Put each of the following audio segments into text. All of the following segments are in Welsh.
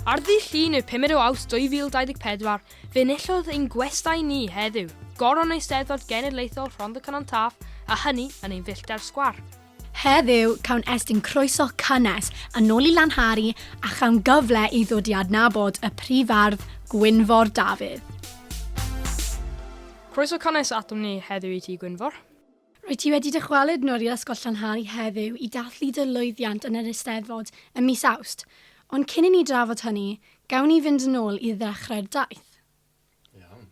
Ar ddydd Llun y 5 o Awst 2024, fe enillodd ein gwestai ni heddiw, goron Eisteddfod Genedlaethol Rhond y Cynon Taf, a hynny yn ein fillter sgwar. Heddiw, cawn estyn croeso cynnes yn ôl i Lan Harry a chawn gyfle i ddod i adnabod y prif ardd Gwynfor Dafydd. Croeso cynnes atom ni heddiw i ti Gwynfor. Rwyt ti wedi dychwelyd yn ôl i'r Ysgol Llanhari heddiw i dathlu dy lwyddiant yn yr Eisteddfod ym mis Awst, ond cyn i ni drafod hynny, gawn ni fynd yn ôl i ddechrau'r daith. Iawn.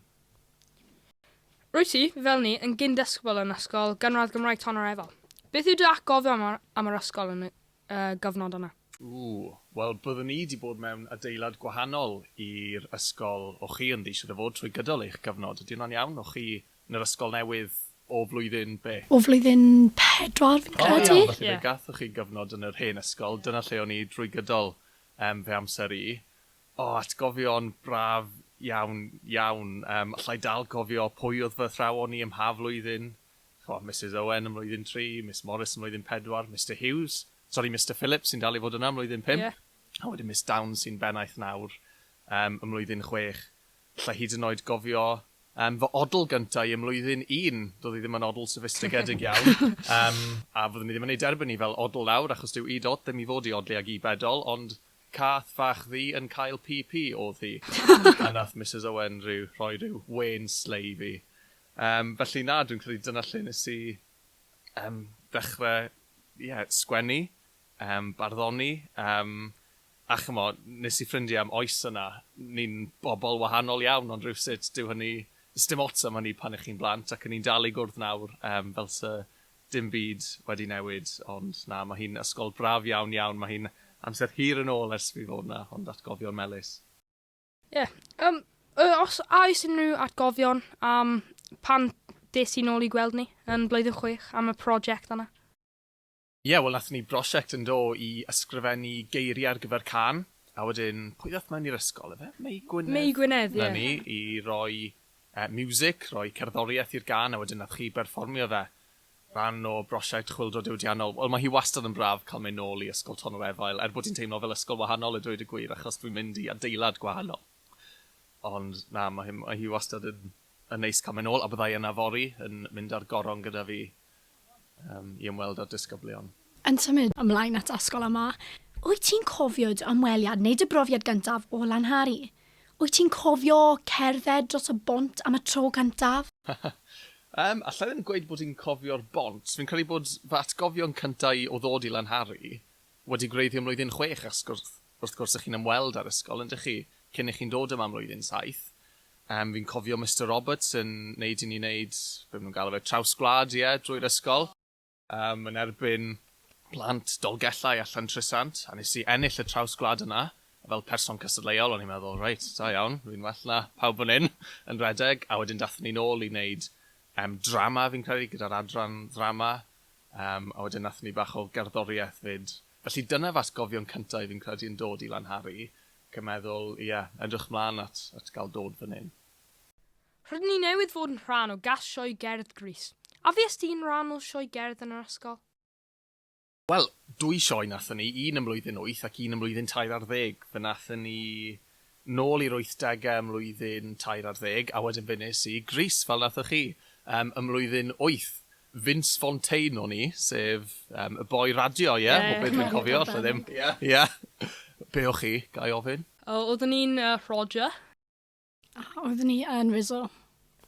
Rwyt ti, fel ni, yn gyn-ddisgybl yn Ysgol Gynradd Gymraeg Tonyr Efal. Beth yw dy atgofion am yr ysgol yn y gyfnod yna? Ww, wel byddwn i 'di bod mewn adeilad gwahanol i'r ysgol o chi ynddi, siŵr o fod, trwy gydol eich cyfnod. Ydy hwnna'n iawn? O chi yn yr ysgol newydd O flwyddyn be? O flwyddyn pedwar fi'n credu. O iawn, felly fe gathoch chi gyfnod yn yr hen ysgol, dyna lle o'n i drwy gydol yym fy amser i. O, atgofion braf iawn, iawn. Yym, alla i dal cofio pwy oedd fy athrawon i ym mha flwyddyn. Ch'mo', Misus Owen ym mlwyddyn tri, Miss Morris ym mlwyddyn pedwar, Mister Hughes, sori Mister Phillips sy'n dal i fod yna ym mlwyddyn pump, a wedyn Miss Downes sy'n bennaeth nawr yym ym mlwyddyn chwech. Alla i hyd yn oed gofio yym fy odl gynta i ym mlwyddyn un, do'dd i ddim yn odl soffistigedig iawn, yym a fyddwn i ddim yn ei derbyn hi fel odl nawr achos dyw i dot ddim i fod i odli ag i bedol ond cath fach ddu yn cael pî pî o'dd hi a nath Misus Owen ryw rhoi ryw wên slei i fi. Yym felly na dwi'n credu dyna lle nes i yym ddechre ie sgwennu, yym barddoni, yym A ch'mod, nes i ffrindie am oes yna, ni'n bobl wahanol iawn ond rywsut dyw hynny... sdim ots am hynny pan 'ych chi'n blant ac 'yn ni'n dal i gwrdd nawr yym fel 'se dim byd wedi newid ond na, ma' hi'n ysgol braf iawn iawn, ma' hi'n amser hir yn ôl ers fi fod 'na ond atgofion melys. Ie, yym yy os a oes unrhyw atgofion am pan des i nôl i gweld ni yn blwyddyn chwech am y prosiect yna? Ie, wel nathon ni brosiect yn do i ysgrifennu geirie ar gyfer cân, a wedyn pwy ddath mewn i'r ysgol efe? Mei Gwynedd? Mei Gwynedd, ie. 'Na ni, i roi yy miwsic, roi cerddorieth i'r gân a wedyn nath chi berfformio fe. Rhan o brosiect chwyldro diwydiannol. Wel ma' hi wastad yn braf ca'l myn' nôl i Ysgol Ton yr Efail, er bod hi'n teimlo fel ysgol wahanol a dweud y gwir achos dwi'n mynd i adeilad gwahanol. Ond na, ma' hi ma' hi wastad yn yn neis ca'l myn' nôl a byddai yna fory yn mynd ar goron gyda fi i ymweld â disgyblion. Yn symud ymlaen at ysgol yma, wyt ti'n cofio dy ymweliad neu dy brofiad gyntaf o Lanhari? Wyt ti'n cofio cerdded dros y bont am y tro cyntaf? Yym, alla i ddim gweud bod i'n cofio'r bont. Fi'n credu bod fy atgofion cynta' i o ddod i Lanhari Wedi gwreiddio mlwyddyn chwech ac wrth gwrs y'chi'n ymweld â'r ysgol yndych chi, cyn y'chi'n dod yma mlwyddyn saith. Yym fi'n cofio Mister Roberts yn neud i ni neud, be ma' nhw'n galw fe, traws-gwlad ie, drwy'r ysgol. Yym yn erbyn plant Dolgellau a Llantrisant, a nes i ennill y traws-gwlad yna, a fel person cystadleuol o'n i'n meddwl reit, da iawn, rwy'n well na pawb fan hyn yn rhedeg, a wedyn dathon ni nôl i neud yym drama fi'n credu gyda'r adran ddrama, Yym, a wedyn nathon ni bach o gerddorieth 'fyd. Felly dyna fy atgofion cynta i fi'n credu yn dod i Lanhari, ac yn meddwl, ie, edrych mlan at at ga'l dod fan 'yn. Rydyn ni newydd fod yn rhan o Gas Sioe Gerdd Grease. A fues di'n rhan o sioe gerdd yn yr ysgol? Wel, dwy sioe nathon ni, un ym mlwyddyn wyth ac un ym mlwyddyn tair ar ddeg. Fe nathon ni nôl i'r wythdege ym mlwyddyn tair ar ddeg, a wedyn fe nes i Grease, fel nathoch chi, yym ym mlwyddyn wyth. Vince Fontaine o'n i, sef yym y boi radio, ie? Ie, ie. Be dwi'n cofio, alla i ddim. Ie. Ie. Be o' chi, ga i ofyn? O, oeddwn i'n yy Roger. A oeddwn i yn Rizzo.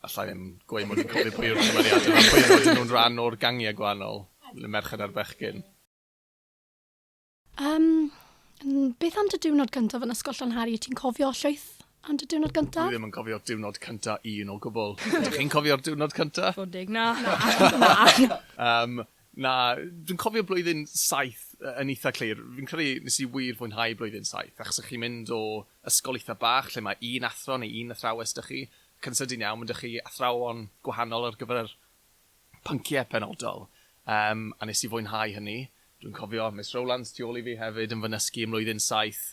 Alla i ddim gweud mod i'n cofio pwy yw'r cymeriade 'ma, pwy oedden nhw'n rhan o'r gangiau gwahanol, y merched a'r bechgyn? Um, beth am dy diwrnod gyntaf yn ysgol Llanhari? Ti'n cofio llwyth am dy diwrnod gyntaf? Dwi ddim yn cofio diwrnod cyntaf un o gwbl. Ydych chi'n cofio'r diwrnod cyntaf? Fod deg, na. Na, na. um, na, dwi'n cofio blwyddyn saith yn eitha clir. Fi'n credu nes i wir fwynhau blwyddyn saith, achos ych chi'n mynd o ysgol eitha bach lle mae un athro neu un athrawes dych chi, ac yn sydyn iawn, mae dych chi athrawon gwahanol ar gyfer pynciau penodol, yym, a nes i fwynhau hynny. Dwi'n cofio Miss Rowlands tu ôl i fi hefyd yn fy nysgu ym mlwyddyn saith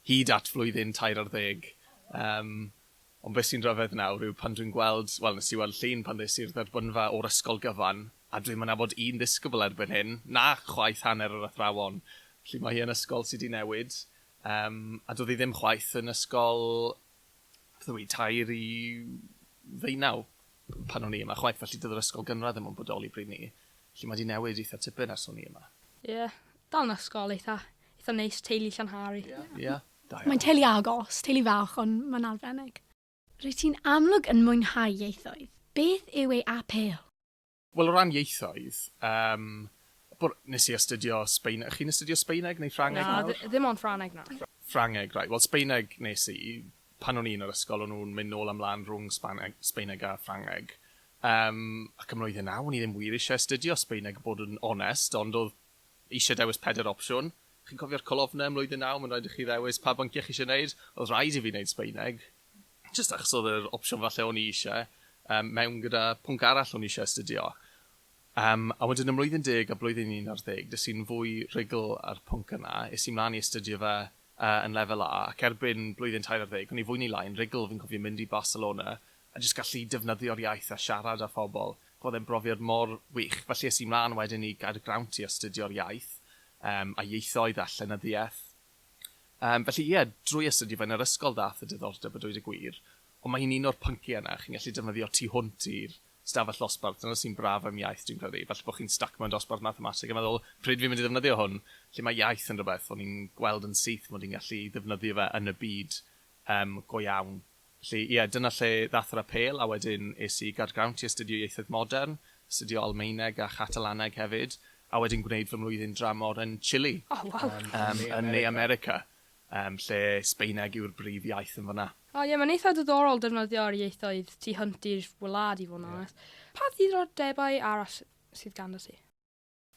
hyd at flwyddyn tair ar ddeg. Yym, ond be sy'n rhyfedd nawr yw pan dwi'n gweld, wel, nes i weld llun pan ddes i'r dderbynfa o'r ysgol gyfan, a dwi'm yn nabod un ddisgybl erbyn hyn, na chwaith hanner yr athrawon. Felly, mae hi yn ysgol sy 'di newid, yym, a doedd hi ddim chwaith yn ysgol beth yw hi, tair i ddeunaw pan o'n i yma chwaith, felly doedd yr ysgol gynradd ddim yn bodoli pryd 'ny. Felly mae 'di newid eitha tipyn ers o'n i yma. Ie, dal yn ysgol eitha, eitha neis, teulu Llanhari. Ie, ie, da iawn. Mae'n teulu agos, teulu fach ond mae'n arbennig. Rwyt ti'n amlwg yn mwynhau ieithoedd. Beth yw ei apêl? Wel o ran ieithoedd, yym, bwr- nes i astudio Sbeine- chi'n astudio Sbaeneg neu Ffrangeg nawr? Na, ddi- ddim ond Ffrangeg nawr. Ffrangeg, reit, wel Sbaeneg nes i, pan o'n i yn yr ysgol o'n nhw'n mynd nôl a mlan rhwng Sbaneg- Sbaeneg a Ffrangeg, yym, ac ym mlwyddyn naw o'n i ddim wir isie astudio Sbaeneg i bod yn onest, ond odd isie dewis pedair opsiwn, chi'n cofio'r colofne ym mlwyddyn naw, ma'n raid i chi ddewis pa bynciau chi isie neud, odd rhaid i fi neud Sbaeneg, jyst achos oedd yr opsiwn falle o'n i eisiau, um, mewn gyda pwnc arall o'n i eisiau astudio. Um, a wedyn ym mlwyddyn deg a blwyddyn 11, dys i'n fwy rhugl ar pwnc yna, is i'n mlaen i astudio fe uh, yn lefel A, ac erbyn blwyddyn 14, o'n i fwy neu lai'n rhugl, fi'n cofio mynd i Barcelona, a jyst gallu defnyddio'r iaith a siarad â phobl. Roedd e'n brofiad mor wych, felly is i'n mlaen wedyn i gael y grawnt i astudio'r iaith, um, a ieithoedd a llenyddiaeth. Yym, felly ie, drwy astudio fe yn yr ysgol ddaeth y diddordeb a dweud y gwir, ond mae hi'n un o'r pynciau yna, chi'n gallu defnyddio tu hwnt i'r stafell ddosbarth, dyna sy'n braf am iaith dwi'n credu, falle bod chi'n styc mewn dosbarth mathemateg a meddwl 'pryd fi'n mynd i ddefnyddio hwn', lle mae iaith yn rhywbeth o'n i'n gweld yn syth mod i'n gallu ddefnyddio fe yn y byd yym go iawn. Felly, ie, dyna lle ddath yr apêl, a wedyn es i i Gaergrawnt i astudio Ieithoedd Modern, astudio Almaeneg a Chatalaneg hefyd, a wedyn gwneud fy mlwyddyn dramor yn Chile, yn Ne America, lle Sbaeneg yw'r brif iaith yn fan'na. O ie, mae'n eitha' diddorol defnyddio'r ieithoedd tu hwnt i'r wlad i fod yn onest. Pa ddiddordebau arall sydd ganddot ti?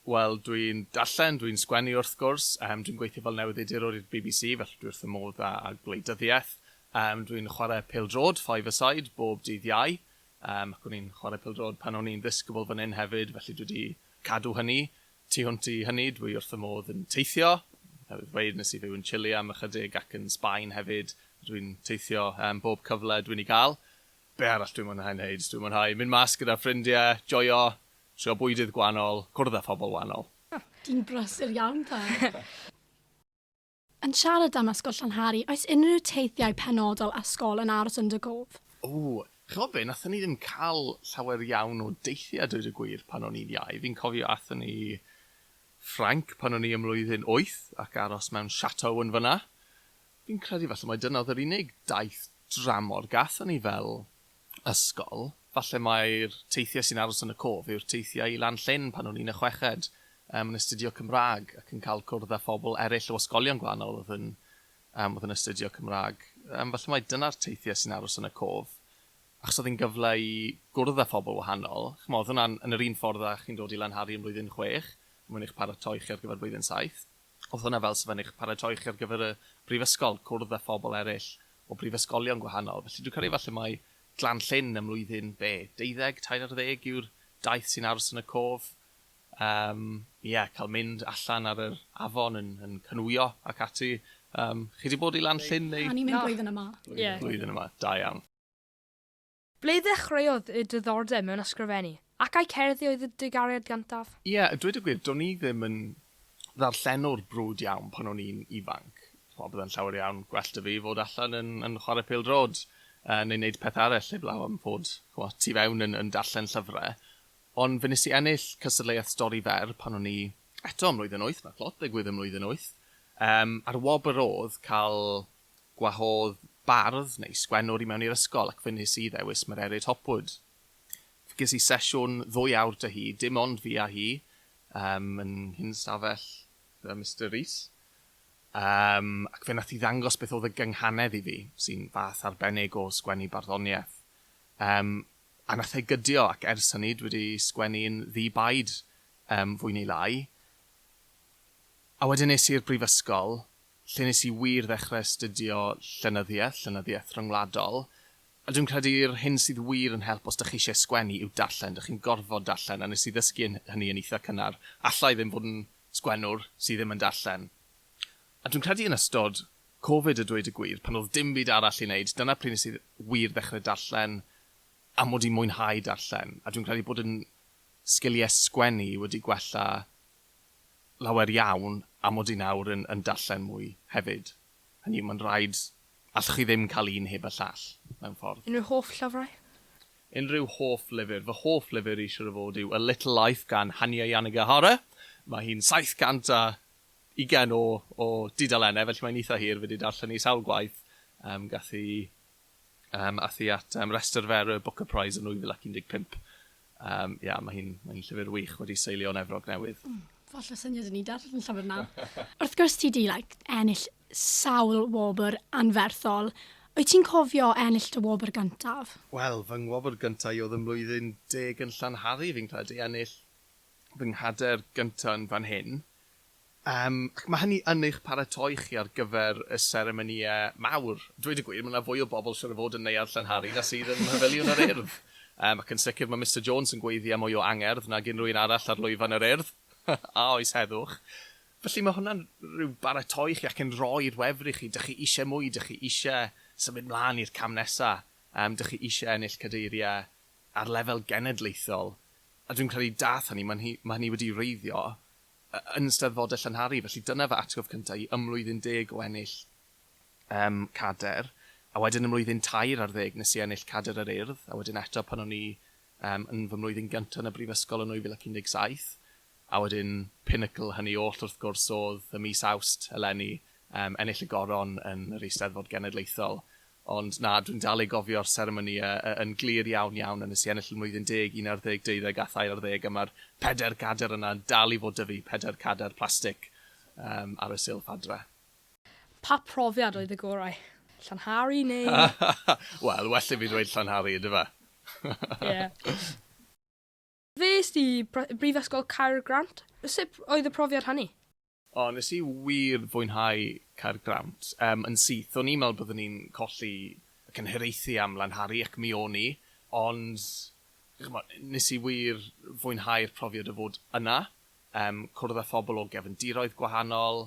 Wel, dwi'n darllen, dwi'n sgwennu wrth gwrs, yym dwi'n gweithio fel newyddiadurwr i'r bbc, felly dwi wrth fy modd â â gwleidyddiaeth. Yym dwi'n chwarae pêl-droed, five-a-side, bob dydd Iau, yym ac o'n i'n chwarae pêl-droed pan o'n i'n ddisgybl fan hyn hefyd, felly dwi 'di cadw hynny. Tu hwnt i hynny, dwi wrth fy modd yn teithio, newydd ddweud nes i fyw yn Chile am ychydig ac yn Sbaen hefyd, dwi'n teithio yym bob cyfle dwi'n ei gael. Be' arall dwi'n mwynhau neud? Dwi'n mwynhau mynd mas gyda ffrindie, joio Trio bwydydd gwanol, cwrdd â phobl wanol. Ti'n brysur iawn dda! Yn siarad am Ysgol Llanhari, oes unrhyw teithiau penodol a 'sgol yn aros yn dy gof? O! Ch'mod be, nathon ni ddim ca'l llawer iawn o deithie a dweud y gwir pan o'n i'n iau. Fi'n cofio athon ni Ffrainc pan o'n i ym mlwyddyn wyth ac aros mewn chateau yn fynna. Fi'n credu falle mai dyna odd yr unig daith dramor gathon ni fel ysgol, falle mai'r teithiau sy'n aros yn y cof yw'r teithiau i Lan Llyn pan o'n i'n y chweched, yym, yn astudio Cymraeg ac yn cael cwrdd â phobl eraill o ysgolion gwahanol oedd yn, yym, oedd yn astudio Cymraeg. Yym, falle mai dyna'r teithiau sy'n aros yn y cof, achos oedd hi'n gyfle i gwrdd â phobl wahanol. Chimod, oedd hwnna'n yn yr un ffordd â chi'n dod i Lanhari yn blwyddyn chwech, mwyn eich paratoi chi ar gyfer blwyddyn saith. Oedd hwnna fel 'sa fe'n eich paratoi chi ar gyfer y brifysgol, cwrdd â phobl eraill o brifysgolion gwahanol. Felly dwi'n credu falle mai Glan Llyn ym mlwyddyn, be, deuddeg, tair ar ddeg yw'r daith sy'n aros yn y cof. Yym, ie, cael mynd allan ar yr afon yn, yn canŵio ac ati. Yym, chi 'di bod i Lan Llyn neu... Na, ni'n mynd blwyddyn yma. Blwyddyn yma, da iawn. Ble ddechreuodd y diddordeb mewn ysgrifennu, ac ai cerddi oedd y dy gariad gyntaf? Ie, a dweud y gwir, do'n i ddim yn ddarllenwr brwd iawn pan o'n i'n ifanc. Ch'mo', bydde'n llawer iawn gwell 'da fi fod allan yn yn chware pêl-droed, yy, neu neud peth arall heblaw am fod, ch'mo', tu fewn yn yn darllen llyfre. Ond fe nes i ennill cystadleuaeth stori fer pan o'n i, eto, ym mlwyddyn wyth, ma' clot 'da digwydd ym mlwyddyn wyth, yym, a'r wobr o'dd ca'l Gwahodd bardd neu sgwennwr i mewn i'r ysgol ac fe wnes i ddewis Mererid Hopwood. Fe ges i sesiwn ddwy awr 'da hi, dim ond fi a hi, yym, yn un stafell gyda Mister Rees, yym, ac fe nath hi ddangos beth oedd y gynghanedd i fi, sy'n fath arbennig o sgwennu barddoniaeth. Yym, a nath e gydio ac ers hynny dwi wedi sgwennu'n ddi-baid, yym, fwy neu lai. A wedyn es i'r brifysgol lle nes i wir ddechrau astudio llenyddiaeth, llenyddiaeth ryngwladol, a dwi'n credu yr hyn sydd wir yn help os dych chi eisiau sgwennu yw darllen, dych chi'n gorfod darllen, a nes i ddysgu hynny yn eitha cynnar, alla i ddim fod yn sgwennwr sydd ddim yn darllen. A dwi'n credu yn ystod Covid a dweud y gwir, pan oedd dim byd arall i wneud, dyna pryd nes i wir ddechrau darllen a mod i'n mwynhau darllen, a dwi'n credu bod yn sgiliau sgwennu wedi gwella lawer iawn am mod i nawr yn yn darllen mwy hefyd. Hynny yw, mae'n rhaid, allwch chi ddim cael un heb y llall, mewn ffordd. Unrhyw hoff llyfrau? Unrhyw hoff lyfr? Fy hoff lyfr i siŵr o fod yw A Little Life gan Hanya Yanagihara. Mae hi'n 720 o o dudalennau, felly mae'n eitha hir, fi 'di darllen hi sawl gwaith. Yym, gath hi Yym, aeth hi at um, restr fer y Booker Prize yn 2015. Um, ia, mae hi'n mae hi llyfr wych wedi seilio yn Efrog Newydd. Mm, falle syniad yn ni darllen llyfr na. Wrth gwrs ti di like, ennill sawl wobr anferthol. Wyt ti'n cofio ennill dy wobr gyntaf? Wel, fy ngwobr gyntaf i oedd ym mlwyddyn deg yn Llanhari, fi'n credu, ennill fy nghader gyntaf yn fan hyn. Yym, ac mae hynny yn eich paratoi chi ar gyfer y seremonïau mawr. Dweud y gwir, mae 'na fwy o bobl siŵr o fod yn Neuadd Llanhari na sydd yn Mhafiliwn yr Urdd. Yym, ac yn sicr mae Mister Jones yn gweiddi â mwy o angerdd nag unrhyw un arall ar lwyfan yr Urdd. A oes heddwch? Felly mae hwnna'n rhyw baratoi chi ac yn rhoi'r wefr i chi. Dych chi eisiau mwy, dych chi eisiau symud mlaen i'r cam nesa'. Yym, dych chi eisiau ennill cadeiriau ar lefel genedlaethol. A dwi'n credu daeth hynny, mae hynny wedi wreiddio. yn ystod fodel Llanhari, felly dyna fy atgof cynta i ym mlwyddyn deg o ennill yym cader, a wedyn ym mlwyddyn tair ar ddeg nes i ennill cader yr Urdd, a wedyn eto pan o'n i yym yn fy mlwyddyn gynta yn y brifysgol yn 2017, a wedyn pinacl hynny oll wrth gwrs o'dd ym mis Awst eleni yym ennill y Goron yn yr Eisteddfod Genedlaethol. Ond na, dwi'n dal i gofio'r seremonïau y- yn glir iawn, iawn, a nes i ennill yn mlwyddyn deg, un ar ddeg, deuddeg a thair ar ddeg, a ma'r pedair cadair yna yn dal i fod 'da fi, pedair cadair plastic yym ar y silff adre. Pa profiad oedd y gorau? Llanhari neu...? Wel, well i fi ddweud Llanhari, yndyfe? Ie. Fes i Brifysgol Caergrawnt. Sut oedd y profiad hynny? O, nes i wir fwynhau Caergrawnt. Yym, yn syth, o'n i'n meddwl byddwn i'n colli y cynhiraethu am Lanhari, ac mi o'n i, ond, ch'mod, nes i wir fwynhau'r profiad o fod yna, yym, cwrdd â phobl o gefndiroedd gwahanol,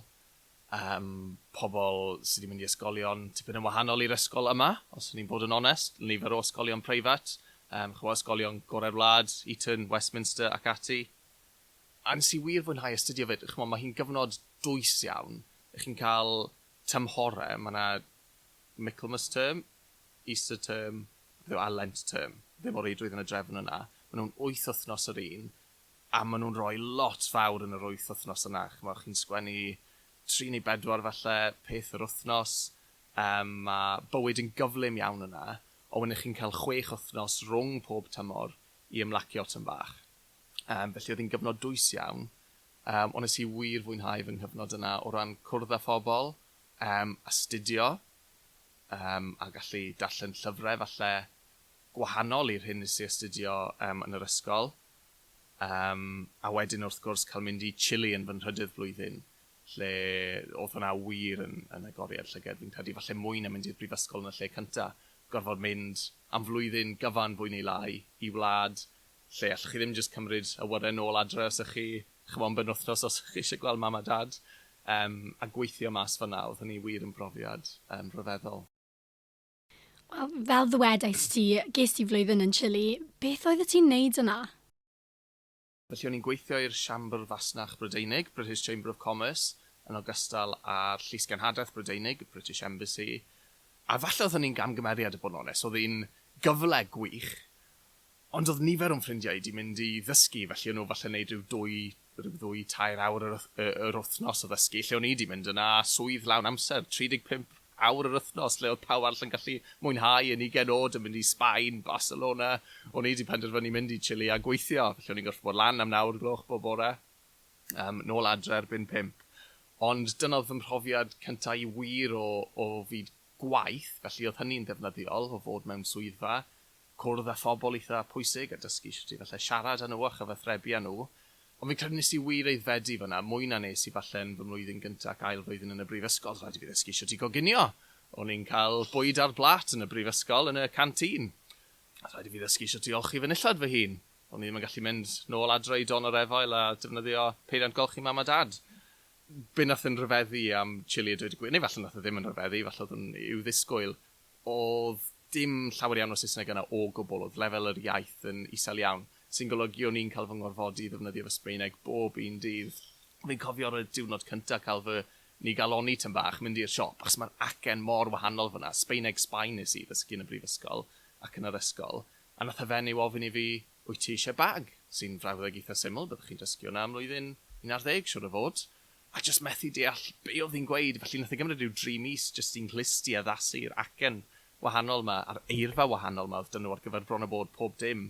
Yym, pobl sy 'di mynd i ysgolion tipyn yn wahanol i'r ysgol yma, os o'n i'n bod yn onest. Nifer o ysgolion preifat, yym, ch'mo' ysgolion gore'r wlad, Eton, Westminster ac ati. A nes i wir fwynhau astudio 'fyd. Ch'mo' ma' hi'n gyfnod dwys iawn. Chi'n ca'l tymhore, ma' 'na Michaelmas term, Easter term, beth yw e, a Lent term. Ddim o reidrwydd yn y drefn yna. Ma' nw'n wyth wthnos yr un, a maen nhw'n rhoi lot fawr yn yr wyth wythnos yna, chimod, chi'n sgwennu tri neu bedwar falle peth yr wythnos, yym, ma' bywyd yn gyflym iawn yna, ond wedyn chi'n cael chwech wythnos rhwng pob tymor i ymlacio tym bach. Yym, felly oedd hi'n gyfnod dwys iawn, yym, ond nes i wir fwynhau fy nghyfnod yna o ran cwrdd â phobl, yym, astudio, yym, a gallu darllen llyfrau falle, gwahanol i'r hyn nes i astudio yn yr ysgol, yym, a wedyn wrth gwrs cael mynd i Chile yn fy nhrydydd blwyddyn, lle oedd hwnna wir yn yn agoriad llygad, fi'n credu falle mwy na mynd i'r brifysgol yn y lle cynta, gorfod mynd am flwyddyn gyfan fwy neu lai i wlad lle allwch chi ddim jyst cymryd awyren nôl adre os ych chi ch'mo' am benwythnos os ych chi isie gweld mam a dad, yym, a gweithio mas fan'na, oedd hynny wir yn brofiad yym rhyfeddol. Wel, fel ddwedais ti, ges di flwyddyn yn Chile. Beth oeddet ti'n neud yna? Felly o'n i'n gweithio i'r Siambr Fasnach Brydeinig, British Chamber of Commerce, yn ogystal â'r Llysgenhadaeth Brydeinig, British Embassy, a falle oedd hynny'n gamgymeriad, i bod yn onest. Oedd hi'n gyfle gwych, Ond oedd nifer o'n ffrindiau i 'di mynd i ddysgu, felly o'n nhw falle'n neud rhyw dwy, rhyw ddwy, tair awr yr y yr wythnos o ddysgu, lle o'n i 'di mynd yna a swydd lawn amser, 35 awr yr wythnos, lle oedd pawb arall yn gallu mwynhau yn ugen o'd yn mynd i Sbaen, Barcelona, o'n i 'di penderfynu mynd i Chile a gweithio, felly o'n i'n gorffod bod lan am naw o'r gloch bob bore, yym, nôl adre erbyn pump. Ond dyna oedd fy mhrofiad cynta' i wir o o fyd gwaith, felly oedd hynny'n ddefnyddiol, o fod mewn swyddfa, cwrdd â phobl eitha pwysig a dysgu shwt i falle siarad â nhw a chyfathrebu â nhw, ond fi'n credu nes i wir aeddfedu fan'na, mwy na nes i falle yn fy mlwyddyn gynta ac ail flwyddyn yn y brifysgol, oedd rhaid i fi ddysgu shwt i goginio! O'n i'n cael bwyd ar blât yn y brifysgol yn y canteen! Oedd rhaid i fi ddysgu shwt i olchi fy nillad fy hun! O'n i ddim yn gallu mynd nôl adre i don yr efail a defnyddio peiriant golchi mam a dad! Be nath yn rhyfeddu am chili a dweud y gwir, neu falle nath e ddim yn rhyfeddu, falle oedd hwn i'w ddisgwyl, Oedd dim llawer iawn o Saesneg yna o gwbl, oedd lefel yr iaith yn isel iawn, sy'n golygu o'n i'n cael fy ngorfodi i ddefnyddio fy Sbaeneg bob un dydd. Fi'n cofio ar y diwrnod cynta cael fy nigalonni tym bach, mynd i'r siop, achos mae'r acen mor wahanol fan'na, Sbaeneg Sbaen nes i ddysgu yn y brifysgol ac yn yr ysgol, a nath y fenyw ofyn i fi, wyt ti eisiau bag? sy'n frawddeg eitha syml, byddwch chi'n dysgu hwnna am flwyddyn un ar ddeg, siwr o fod. a jyst methu deall be oedd hi'n gweud, felly nath e gymryd rhyw dri mis jyst i nghlusti addasu'r acen wahanol 'ma a'r eirfa wahanol 'ma oedd 'da nhw ar gyfer bron a bod pob dim,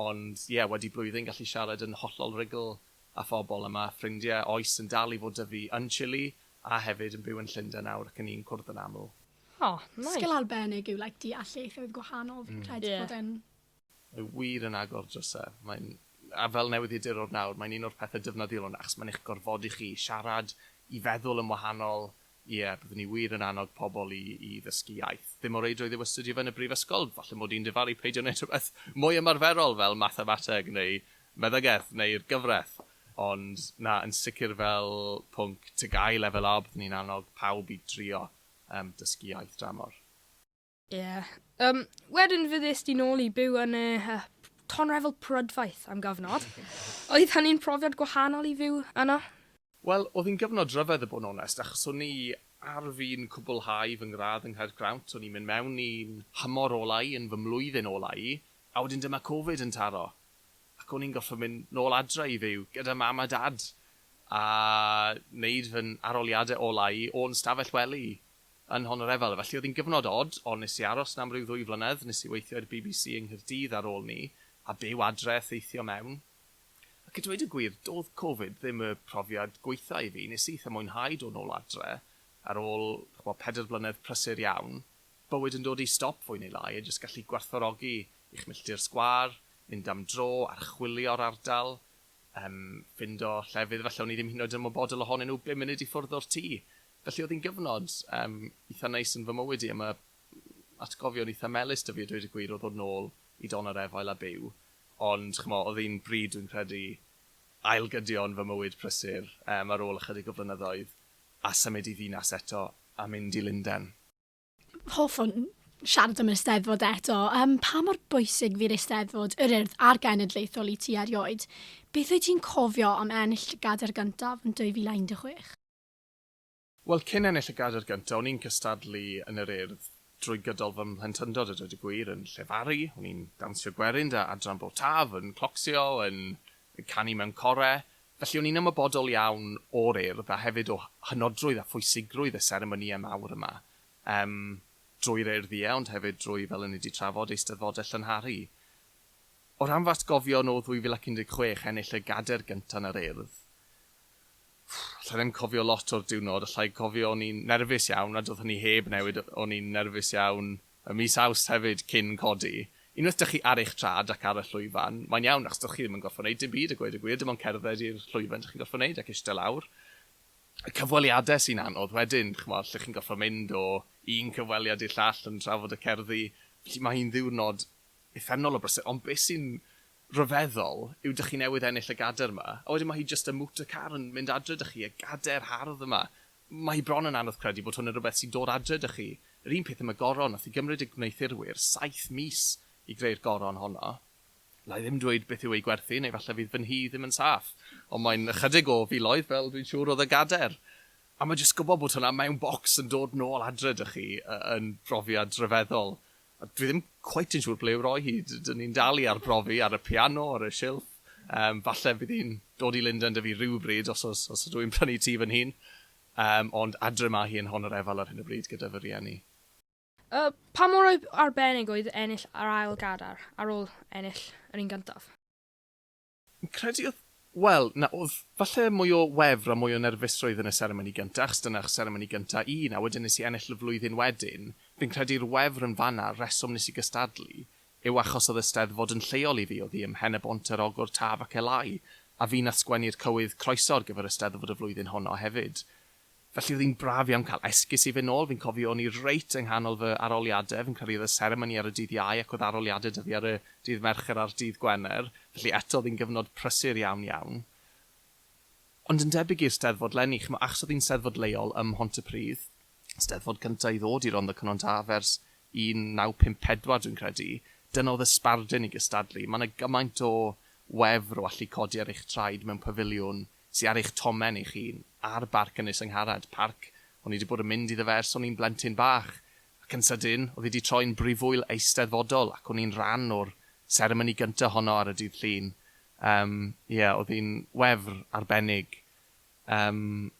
ond ie, wedi blwyddyn gallu siarad yn hollol rugl â phobl, a ma' ffrindie oes yn dal i fod 'da fi yn Chile a hefyd yn byw yn Llundain nawr ac 'yn ni'n cwrdd yn aml. O, nice. Sgil arbennig yw like deall ieithoedd gwahanol, fi'n credu bod e'n Mae wir yn agor drysau. Mae'n... a fel newyddiadurwr nawr, mae'n un o'r pethe dyfnaddiol hwn, achos mae'n eich gorfodi chi i siarad, i feddwl yn wahanol. Ie, byddwn ni wir yn annog pobl i i ddysgu iaith. Ddim o reidrwydd yw astudio fe yn y brifysgol, falle mod i'n dyfalu peidio wneud rhywbeth mwy ymarferol fel mathemateg neu meddygaeth neu'r gyfraith, ond na, yn sicr fel pwnc TGAU Lefel A byddwn ni'n annog pawb i drio yym dysgu iaith dramor. Ie. Yeah. Um, wedyn fe ddys di nôl i byw yn y uh, tonrefel prydfaith am gyfnod. Oedd hynny'n profiad gwahanol i fyw yno? Wel, oedd hi'n gyfnod rhyfedd y bod yn onest, achos o'n i ar fin cwblhau fy ngradd yng Nghaergrawnt, o'n i'n mynd mewn i'n hymor ola i, yn fy mlwyddyn ola i, a wedyn dyma Covid yn taro. Ac o'n i'n gorfod mynd nôl adre i fyw gyda mam a dad, a wneud fy aroliadau ola i o'n stafell wely yn Nhonorefel. Felly oedd hi'n gyfnod od, ond nes i aros 'na am ryw ddwy flynedd, nes i weithio i'r bbc yng Nghaerdydd ar ôl 'ny, a byw adre, theithio mewn. Ac a dweud y gwir, doedd Covid ddim y profiad gwaetha' i fi, nes i eitha' mwynhau dod nôl adre, ar ôl, ch'bo', pedair blynedd prysur iawn, bywyd yn dod i stop fwy neu lai, a jyst gallu gwerthfawrogi eich milltir sgwâr, mynd am dro, archwilio'r ardal, yym, ffindo llefydd falle o'n i ddim hyd yn oed yn ymwybodol ohonyn nhw bum munud i ffwrdd o'r tŷ. Felly oedd hi'n gyfnod yym eitha neis yn fy mywyd i a ma' atgofion eitha melys 'da fi a dweud y gwir o ddod nôl i don yr efail a byw ond ch'mo' odd un bryd dwi'n credu ail gydio yn fy mywyd prysur yym ar ôl ychydig o flynyddoedd a symud i ddinas eto a mynd i Lunden. Hoffwn siarad am yr Eisteddfod eto. Yym pa mor bwysig fu'r Eisteddfod, yr Urdd a'r Genedlaethol i ti erioed? Beth wyt ti'n cofio am ennill dy gadair gyntaf yn 2016? Wel, cyn ennill y gadair gyntaf, o'n i'n cystadlu yn yr Urdd drwy gydol fy mhlentyndod a dweud y gwir, yn llefaru, o'n i'n dawnsio gwerin 'da Adran Bro Taf, yn clocsio, yn canu mewn core, felly o'n i'n ymwybodol iawn o'r Urdd a hefyd o hynodrwydd a phwysigrwydd y seremonïau mawr yma, yym, drwy'r Urdd ie, ond hefyd drwy, fel o'n i 'di trafod, Eisteddfodau Llynharu. O ran fy atgofion o 2016, ennill y gadair gyntaf yn yr Urdd, Ffff, alla i ddim cofio lot o'r diwrnod, alla i cofio o'n i'n nerfus iawn a do'dd hynny heb newid, o'n i'n nerfus iawn ym mis Awst hefyd cyn codi. Unwaith dych chi ar eich trad ac ar y llwyfan, mae'n iawn achos do'ch chi ddim yn gorfod neud dim byd a gweud y gwir, dim ond cerdded i'r llwyfan dych chi'n gorfod neud ac ishte lawr. Y cyfweliade sy'n anodd wedyn, ch'mo', lle chi'n gorfod mynd o un cyfweliad i'r llall yn trafod y cerddi, felly ma' hi'n ddiwrnod uffernol o brysur, ond be' sy'n rhyfeddol yw dych chi newydd ennill y gader yma, a wedyn mae hi jyst y motor car yn mynd adre 'da chi, y gader hardd yma. Mae hi bron yn anodd credu bod hwn yn rhywbeth sy'n dod adre 'da chi. Yr un peth am y goron, wnaeth hi gymryd y gwneuthurwyr saith mis i greu'r goron honno. Alla i ddim dweud beth yw ei gwerth hi, neu falle fydd fy nhŷ ddim yn saff, ond mae'n ychydig o filoedd, fel dwi'n siŵr oedd y gader. A mae jyst gwybod bod hwnna mewn bocs yn dod nôl adre 'da chi yn brofiad rhyfeddol. A dwi ddim cweit yn siŵr ble i'w roi hi. D- dyn ni'n dal i arbrofi ar y piano, ar y silff. Yym, falle fydd hi'n dod i Lundain 'da fi rywbryd, os oes, os ydw i'n prynu tŷ fy hun. Yym, ond adre mae hi yn Hon yr Efal ar hyn o bryd gyda fy rhieni. A pa mor ar- arbennig oedd ennill yr ail gadair ar ôl ennill yr un gyntaf? Fi'n credu oedd, wel, na, oedd falle mwy o wefr a mwy o nerfusrwydd yn y seremoni gynta, achos dyna'r seremoni gynta un, a wedyn nes i ennill y flwyddyn wedyn. Fi'n credu'r wefr yn fan'na, y rheswm nes i gystadlu, yw achos oedd y Steddfod yn lleol i fi, oedd hi ym Mhen-y-bont, Yr Ogwr, Taf ac Elái, a fi nath sgwennu'r cywydd croeso ar gyfer y Steddfod y flwyddyn honno hefyd. Felly oedd hi'n braf iawn cael esgus i fynd nôl, fi'n cofio o'n i reit yng nghanol fy aroliadau, fi'n credu oedd y seremoni ar y dydd Iau ac oedd aroliadau 'da fi ar y dydd Mercher a'r dydd Gwener, felly eto oedd hi'n gyfnod prysur iawn iawn. Ond yn debyg i'r Steddfod 'leni, chimod, achos oedd hi'n Steddfod leol ym Mhontypridd, Steddfod gynta' i ddod i Rondda Cynon Taf ers 1954 dwi'n credu, dyna oedd y sbardun i gystadlu, mae 'na gymaint o wefr o allu codi ar eich traed mewn pafiliwn sy ar eich tomen eich hun, ar Barc Ynys yng Ngharad, parc o'n i 'di bod yn mynd iddo fe ers o'n i'n blentyn bach, ac yn sydyn, oedd hi 'di troi'n brifwyl eisteddfodol, ac o'n i'n rhan o'r seremoni gynta' honno ar y Dydd Llun. Yym, ie, oedd hi'n wefr arbennig. Yym,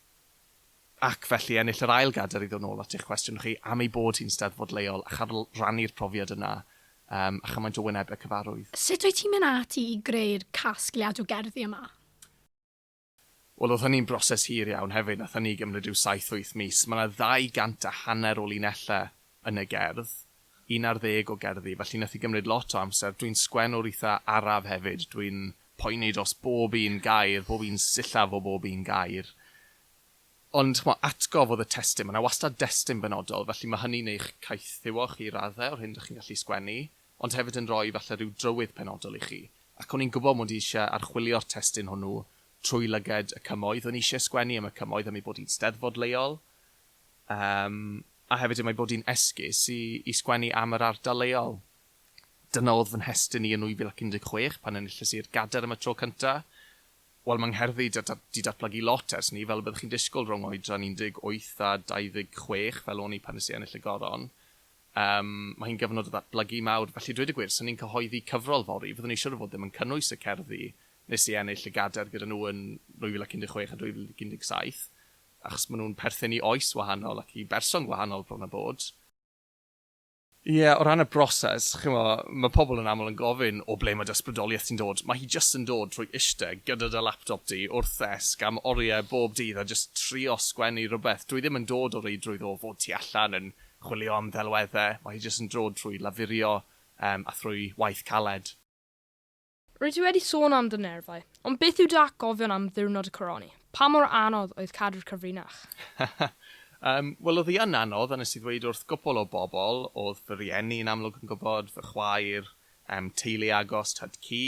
ac felly, ennill yr ail gadair, i ddod nôl at eich cwestiwn chi, am ei bod hi'n Steddfod leol, a chael rhannu'r profiad yna, yym, a chymaint o wynebau cyfarwydd. Sut wyt ti'n mynd ati i greu'r casgliad o gerddi yma? Wel oedd hynny'n broses hir iawn hefyd, wnaeth hynny gymryd rhyw saith wyth mis. Mae yna ddau gant a hanner o linellau yn y gerdd, un ar ddeg o gerddi, felly wnaeth hi gymryd lot o amser. Dwi'n sgwennwr eitha' araf hefyd, dwi'n poeni dros bob un gair, bob un sillaf o bob un gair. Ond ch'mo' atgof oedd y testun, mae yna wastad destun benodol, felly mae hynny'n eich caethiwo chi i raddau o'r hyn dych chi'n gallu sgwennu. ond hefyd yn rhoi falle rhyw drywydd penodol i chi, ac o'n i'n gwybod mod i eisiau archwilio'r testun hwnnw trwy lyged y cymoedd, o'n i eisiau sgwennu am y cymoedd am ei bod hi'n Steddfod leol, yym, a hefyd am ei bod hi'n esgus i, i sgwennu am yr ardal leol. Dyna oedd fy nhestun i yn 2016 pan enillais i'r Gadair am y tro cyntaf. Wel, mae ngherddi da- da- 'di datblygu lot ers 'ny, fel y byddwch chi'n disgwyl rhwng oedran 18 a 26 fel o'n i pan nes i ennill y Goron. Yym, mae hi'n gyfnod o ddatblygu mawr, felly dweud y gwir, 'sen ni'n cyhoeddi cyfrol fory, fyddwn i siwr o fod ddim yn cynnwys y cerddi nes i ennill y gadair gyda nhw yn 2016 a 2017, achos maen nhw'n perthyn i oes wahanol ac i berson gwahanol bron a bod. Ie, o ran y broses, chimo, mae pobl yn aml yn gofyn, 'o ble mae dy ysbrydoliaeth ti'n dod? Mae hi jyst yn dod trwy ishte gyda dy laptop di wrth ddesg am oriau bob dydd a jyst trio sgwennu rhywbeth. Dwi ddim yn dod o reidrwydd o fod tu allan yn Chwilio am ddelweddau, mae hi jyst yn dod trwy lafurio yym a thrwy waith caled. Rwyt ti wedi sôn am dy nerfau, ond beth yw dy atgofion am ddiwrnod y coroni? Pa mor anodd oedd cadw'r cyfrinach? Yym, wel oedd hi yn anodd a nes i ddweud wrth gwpwl o bobl, oedd fy rieni yn amlwg yn gwybod, fy chwaer, yym teulu agos, tad cu,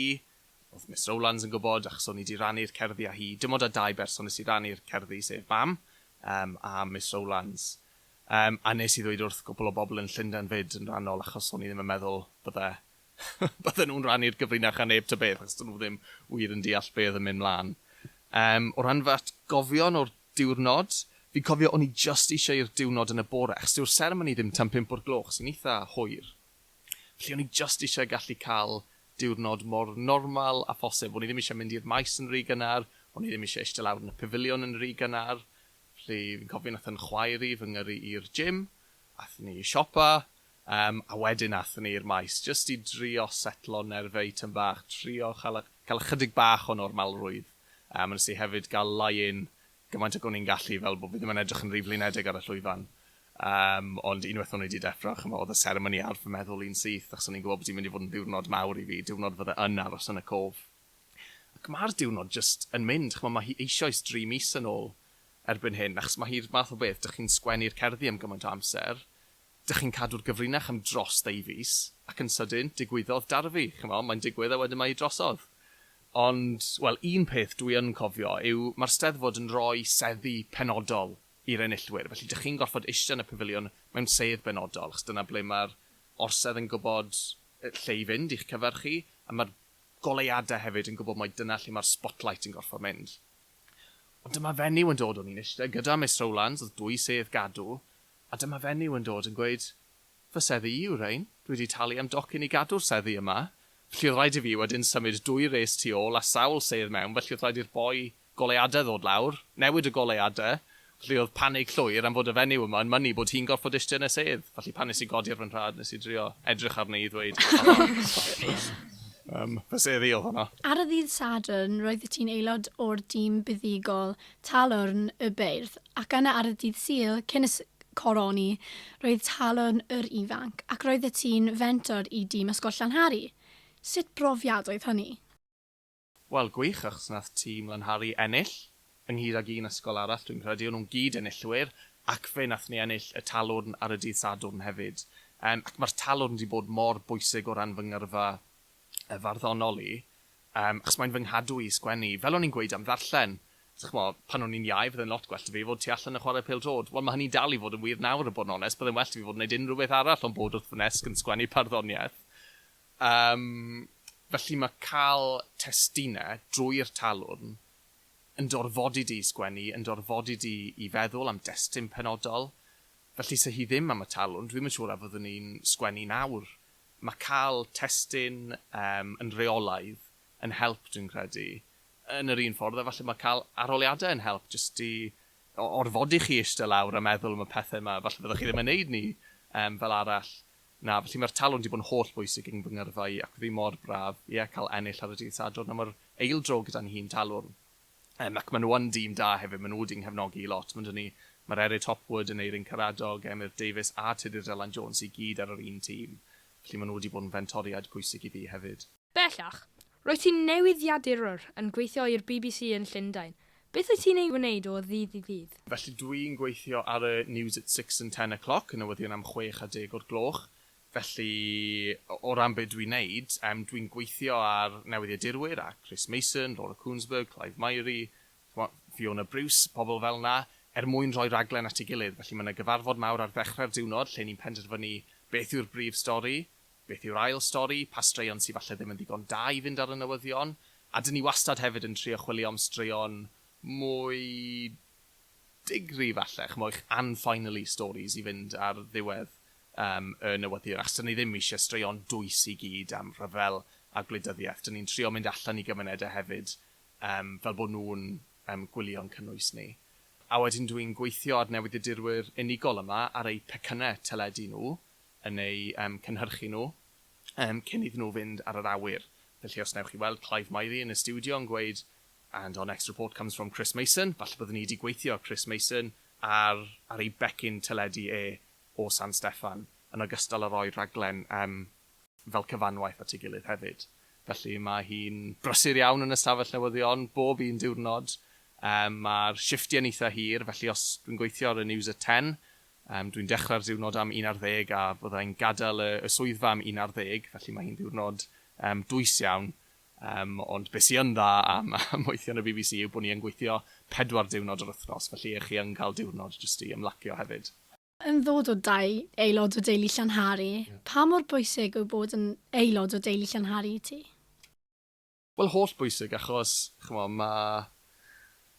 oedd Miss Rowlands yn gwybod achos o'n i 'di rannu'r cerddi â hi, dim ond â dau berson nes i rannu'r cerddi sef mam, yym a Miss Rowlands. Yym, a nes i ddweud wrth gwpl o bobl yn Llundain 'fyd yn rannol achos o'n i ddim yn meddwl bydde bydde nhw'n rannu'r gyfrinach â neb ta beth achos 'dyn nhw ddim wir yn deall be' oedd yn mynd mlan. Yym, o ran fy atgofion o'r diwrnod, fi'n cofio o'n i jyst eisiau i'r diwrnod yn y bore achos dyw'r seremoni ddim tan pump o'r gloch sy'n eitha hwyr. Felly o'n i jyst eisiau gallu cael diwrnod mor normal â phosib. O'n i ddim eisiau mynd i'r maes yn ry gynnar, o'n i ddim eisiau ishte lawr yn y pafiliwn yn ry gynnar. Felly fi'n cofio nath yn chwaer i fy ngyrru i'r gym, athon ni i siopa, yym, a wedyn athon ni i'r maes jyst i drio setlo nerfey tym bach, trio cha'l y- ca'l ychydig bach o normalrwydd, yym, a nes i hefyd ga'l lie-in gymaint ag o'n i'n gallu fel bo' fi ddim yn edrych yn rhy flinedig ar y llwyfan. Yym, ond unweth o'n i 'di deffro, ch'mo', odd y seremoni ar fy meddwl i'n syth, achos o'n i'n gwbo bo' di'n mynd i fod yn ddiwrnod mawr i fi, diwrnod fydde yn aros yn y cof. Ac mae'r diwrnod jyst yn mynd, ch'mod, mae hi eisioes dri mis yn ôl erbyn hyn, achos mae hi'r math o beth, dych chi'n sgwennu'r cerddi am gymaint o amser, dych chi'n cadw'r gyfrinach am dros ddeu fis, ac yn sydyn, digwyddodd Darfi, ch'mod, mae'n digwydd a wedyn mae hi drosodd. Ond, wel, un peth dwi yn cofio yw mae'r Steddfod yn rhoi seddi penodol i'r enillwyr, felly dych chi'n gorfod eistedd yn y Pafiliwn mewn sedd benodol, achos dyna ble mae'r orsedd yn gwybod lle i fynd i'ch cyfer chi, a mae'r goleuadau hefyd yn gwybod mai dyna lle mae'r spotlight yn gorfod mynd. Ond dyma fenyw yn dod, o'n i'n eistedd gyda Miss Rowlands, oedd dwy sedd gadw, a dyma fenyw yn dod yn gweud, fy seddi i yw rhein, dwi wedi talu am docyn i gadw'r seddi yma, felly oedd rhaid i fi wedyn symud dwy res tu ôl a sawl sedd mewn, felly oedd rhaid i'r boi Goleuadau ddod lawr, newid y goleuadau, felly oedd panig llwyr am fod y fenyw yma yn mynnu bod hi'n gorfod istedd yn y sedd, felly pan nes i godi ar fy nhraed nes i drio edrych arni i ddweud Yym, fy sedd i oedd honno. Ar y ddydd Sadwrn roeddet ti'n aelod o'r dîm buddugol Talwrn y Beirdd, ac yna ar y dydd Sul, cyn y Coroni, roedd Talwrn yr Ifanc, ac roeddet ti'n fentor i dîm Ysgol Llanhari. Sut brofiad oedd hynny? Wel gwych achos nath tîm Lanhari ennill ynghyd ag un ysgol arall dwi'n credu, o'n nhw'n gyd enillwyr ac fe nath ni ennill y talwrn ar y dydd Sadwrn hefyd yym ac ma'r talwrn di bod mor bwysig o ran fy ngyrfa yy farddonol i yym achos mae'n fy nghadw i i sgwennu fel o'n i'n gweud am ddarllen so ch'mo' pan o'n i'n iau fydde'n lot gwell da fi fod tu allan yn chware pêl drod wel ma' hynny'n dal i fod yn wir nawr a bod yn onest bydde'n well da fi fod yn neud unrhyw beth arall ond bod wrth fy nesg yn sgwennu parddoniaeth Yym, felly mae cael testunau drwy'r talwrn yn dy orfodi di i sgwennu, yn dy orfodi di i feddwl am destun penodol. Felly, 'se hi ddim am y talwrn, dwi'm yn siŵr a fyddwn i'n sgwennu nawr. Mae cael testun yym yn reolaidd yn help, dwi'n credu, yn yr un ffordd a falle mae cael arholiadau yn help, jyst i o- orfodi chi ishte lawr a meddwl am y pethe 'ma, falle fyddwch chi ddim yn neud 'ny yym fel arall. Na, felly mae'r talw'n 'di bod yn holl bwysig i fy ngyrfa i ac fydd hi mor braf, ie, cael ennill ar y dydd Sadwrn am yr ail dro gyda'n nhîm talwrn. Yym, ac maen nhw yn dîm da hefyd, maen nhw 'di 'nghefnogi i lot. Mae 'da ni Marerid Hopwood, Aneurin Karadog, Emyr Davies a Tudur Dylan Jones i gyd ar yr un tîm, felly maen nhw 'di bod yn fentoriaid pwysig i fi hefyd. Bellach, roedd ti'n newyddiadurwr yn gweithio i'r bbc yn Llundain. Beth wyt ti'n ei wneud o ddydd i ddydd? Felly dwi'n gweithio ar y News at Six and Ten O'Clock, y newyddion am chwech a deg o'r gloch. Felly, o ran be dwi'n wneud, yym dwi'n gweithio â'r newyddiadurwyr, â Chris Mason, Laura Kuenssberg, Clive Myrie, chimod, Fiona Bruce, pobl fel 'na, er mwyn rhoi rhaglen at ei gilydd. Felly mae 'na gyfarfod mawr ar ddechrau'r diwrnod lle ni'n penderfynu beth yw'r brif stori, Beth yw'r ail stori? Pa straeon sy falle ddim yn ddigon da i fynd ar y newyddion? A dyn ni wastad hefyd yn trio chwilio am straeon mwy digri falle, ch'mo' eich unfinally stories i fynd ar ddiwedd yym y newyddion, achos dyn ni ddim isie straeon dwys i gyd am rhyfel a gwleidyddiaeth. Dyn ni'n trio mynd allan i gymunede hefyd yym fel bo' nhw'n yym gwylio'n cynnwys ni. A wedyn dwi'n gweithio ar newyddiadurwyr unigol yma ar eu pecynne teledu nhw, yn eu cynhyrchu nhw cyn iddyn nhw fynd ar yr awyr. Felly os wnewch chi weld Clive Myrie yn y stiwdio yn gweud And our next report comes from Chris Mason, falle byddwn ni wedi gweithio â Chris Mason ar ar ei becyn teledu e o San Steffan, yn ogystal â rhoi rhaglen fel cyfanwaith at ei gilydd hefyd. Felly mae hi'n brysur iawn yn y stafell newyddion, bob un diwrnod. Mae'r shifftiau'n eitha' hir, felly os dwi'n gweithio ar y News at Ten, Yym, dwi'n dechrau'r diwrnod am un ar ddeg a fydda i'n gadael y y swyddfa am un ar ddeg, felly mae hi'n ddiwrnod yym dwys iawn. Yym, ond be sy yn dda am am weithio yn y bbc yw bod ni yn gweithio pedwar diwrnod yr wythnos, felly 'ych chi yn cael diwrnod jyst i ymlacio hefyd. Yn ddod o dau aelod o deulu Llanhari, pa mor bwysig yw bod yn aelod o deulu Llanhari i ti? Wel holl bwysig achos ch'mo' ma'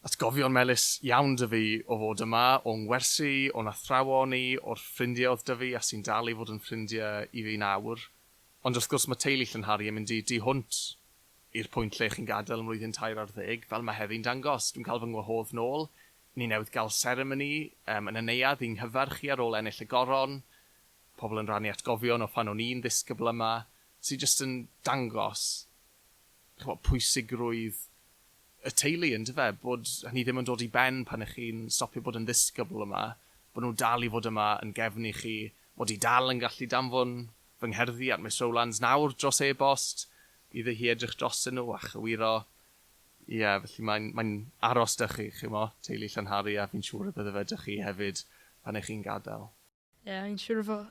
atgofion melys iawn 'da fi o fod yma, o'n ngwersi, o'n athrawon i, o'r ffrindie o'dd 'da fi a sy'n dal i fod yn ffrindie i fi nawr. Ond wrth gwrs ma' teulu Llynhari yn mynd i du hwnt i'r pwynt lle chi'n gadel mlwyddyn tair ar ddeg, fel ma' heddi'n dangos. Dwi'n ca'l fy ngwahodd nôl, ni newydd ga'l seremoni yym yn y neuadd i'n nghyfarch i ar ôl ennill y Goron, pobl yn rannu atgofion o phan o'n i'n ddisgybl yma, sy jyst yn dangos ch'mo' pwysigrwydd y teulu yndyfe? Bod hynny ddim yn dod i ben pan 'ych chi'n stopio bod yn ddisgybl yma, bo' nhw'n dal i fod yma yn gefn i chi, mod i dal yn gallu danfon fy ngherddi at Miss Rowlands nawr dros e-bost, iddi hi edrych drostyn nhw a chywiro. Ie, felly mae'n mae'n aros 'da chi, chimo, teulu Llanhari a fi'n siŵr y bydde fe 'da chi hefyd pan 'ych chi'n gadael. Ie, fi'n siŵr o fod.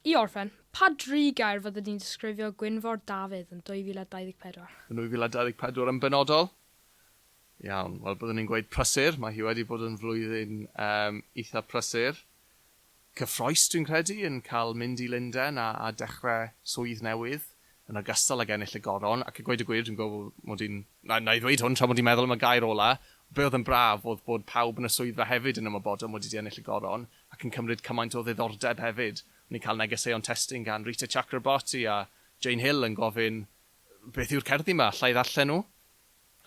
I orffen, pa dri gair fyddet ti'n disgrifio Gwynfor Dafydd yn 2024? Yn 2024 yn benodol? Iawn, wel byddwn i'n gweud prysur, mae hi wedi bod yn flwyddyn yym eitha' prysur. Cyffrous dwi'n credu yn cael mynd i Lundain a a dechre swydd newydd, yn ogystal ag ennill y Goron, ac a gweud y gwir dwi'n gwybod fod mod i'n, na na i ddweud hwn tra mod i'n meddwl am y gair ola', be' oedd yn braf oedd bod pawb yn y swyddfa hefyd yn ymwybodol mod i 'di ennill y Goron, ac yn cymryd cymaint o ddiddordeb hefyd. O'n i'n cael negeseuon testun gan Rita Chakrabarti a Jane Hill yn gofyn beth yw'r cerddi 'ma, alla i ddarllen nhw?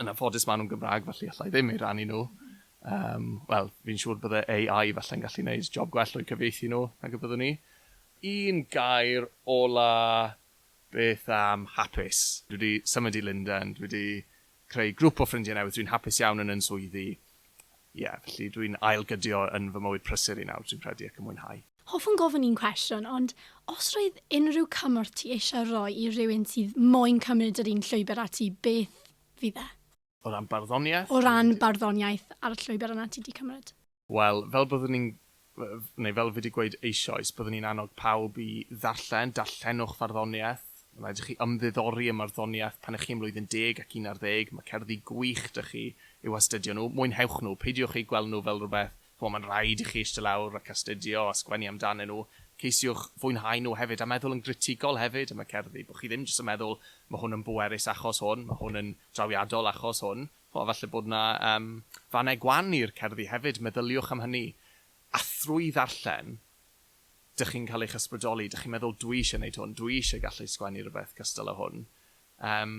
Yn anffodus maen nhw'n Gymraeg felly alla i ddim eu rhannu nhw. Yym, wel, fi'n siŵr bydde AI falle'n gallu wneud job gwell o'u cyfieithu nhw nag y byddwn i. Un gair ola, beth am hapus? Dwi 'di symud i Lundain, dwi 'di creu grwp o ffrindiau newydd, dwi'n hapus iawn yn yn swyddi, ie, felly dwi'n ail-gydio yn fy mywyd prysur i nawr, dwi'n credu, ac yn mwynhau. Hoffwn gofyn un cwestiwn, ond os roedd unrhyw cymorth ti eisiau roi i rywun sydd moyn cymryd yr un llwybr â ti, beth fydd e? O ran barddoniaeth? O ran barddoniaeth a'r llwybr yna ti 'di cymryd. Wel, fel byddwn ni'n, neu fel fi 'di gweud eisoes, byddwn ni'n annog pawb i ddarllen, darllenwch farddoniaeth, mae'n rhaid i chi ymddiddori ym marddoniaeth pan 'ych chi ym mlwyddyn deg ac un ar ddeg, mae cerddi gwych 'da chi i'w hastudio nhw, mwynhewch nhw, peidiwch eu gweld nhw fel rhywbeth, chimod, mae'n rhaid i chi eistedd lawr ac astudio a sgwennu amdanyn nhw, ceisiwch fwynhau nhw hefyd a meddwl yn gritigol hefyd am y cerddi, bod chi ddim jyst yn meddwl 'ma hwn yn bwerus achos hwn, ma' hwn yn drawiadol achos hwn'. O, falle bod 'na yym fannau gwan i'r cerddi hefyd, meddyliwch am hynny. A thrwy ddarllen, dych chi'n cael eich ysbrydoli, dych chi'n meddwl 'dwi eisiau neud hwn, dwi eisiau gallu sgwennu rywbeth cystal â hwn. Yym,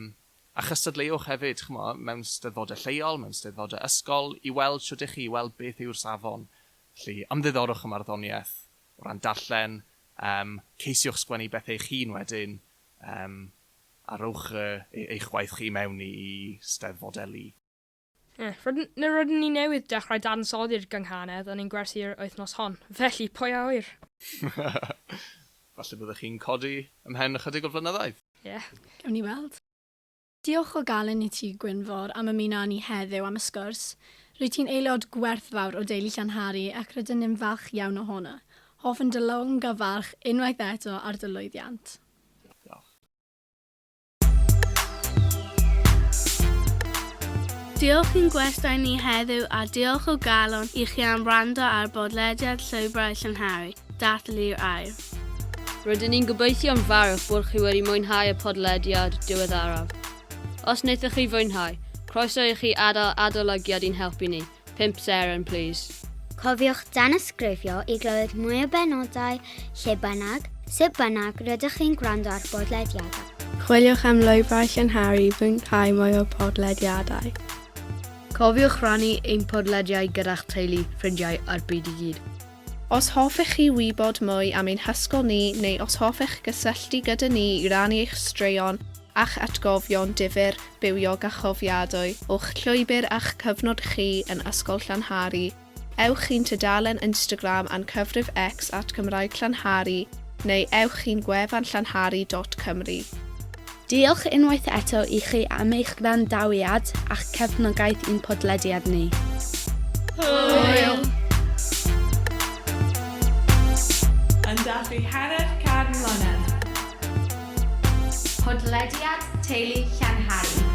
a chystadleuwch hefyd, ch'mo', mewn steddfodau lleol, mewn steddfodau ysgol, i weld shwt 'ych chi, i weld beth yw'r safon. Felly, ymddiddorwch â marddoniaeth o ran darllen, yym, ceisiwch sgwennu bethau eich hun wedyn, yym, A rhowch eich gwaith chi i mewn i steddfodelu. Rydyn ni newydd dechrau dadansoddi'r gynghanedd yn ein gwersi'r wythnos hon, felly pwy a ŵyr? Falle byddech chi'n codi ymhen ychydig o flynyddau. Ie, gawn ni weld. Diolch o galon i ti, Gwynfor, am ymuno â ni heddiw am y sgwrs. Rwyt ti'n aelod gwerthfawr o deulu Llanhari ac rydyn ni'n falch iawn ohono. Hoffwn dy logyfarch unwaith eto ar dy lwyddiant. Diolch. Diolch i'n gwestai ni heddiw a diolch o galon i chi am wrando ar bodlediad Llwybrau Llynhari, Dathlu'r Air. Rydyn ni'n gobeithio'n fawr bod chi wedi mwynhau y podlediad diweddaraf. Os wnaethoch chi fwynhau, croeso i chi adael adolygiad i'n helpu ni 5 seren plîs. Cofiwch danysgrifio i glywed mwy o benodau lle bynnag, sut bynnag rydych chi'n gwrando ar bodlediadau. Chwiliwch am lwybrau llynharu i fwynhau mwy o podlediadau. Cofiwch rannu ein podlediau gyda'ch teulu, ffrindiau a'r byd i gyd. Os hoffech chi wybod mwy am ein hysgol ni neu os hoffech gysylltu gyda ni i rannu eich straeon a'ch atgofion difyr bywiog a chofiadwy o'ch llwybr a'ch cyfnod chi yn Ysgol Llanhari, ewch i'n tudalen Instagram a'n cyfrif X at Gymraeg Llanhari neu ewch i'n gwefan llanhari dot cymru. Diolch unwaith eto i chi am eich gwrandawiad a'ch cefnogaeth i'n podlediad ni. Hwyl! Yn dathlu hanner can mlynedd. Podlediad Teulu Llanhari.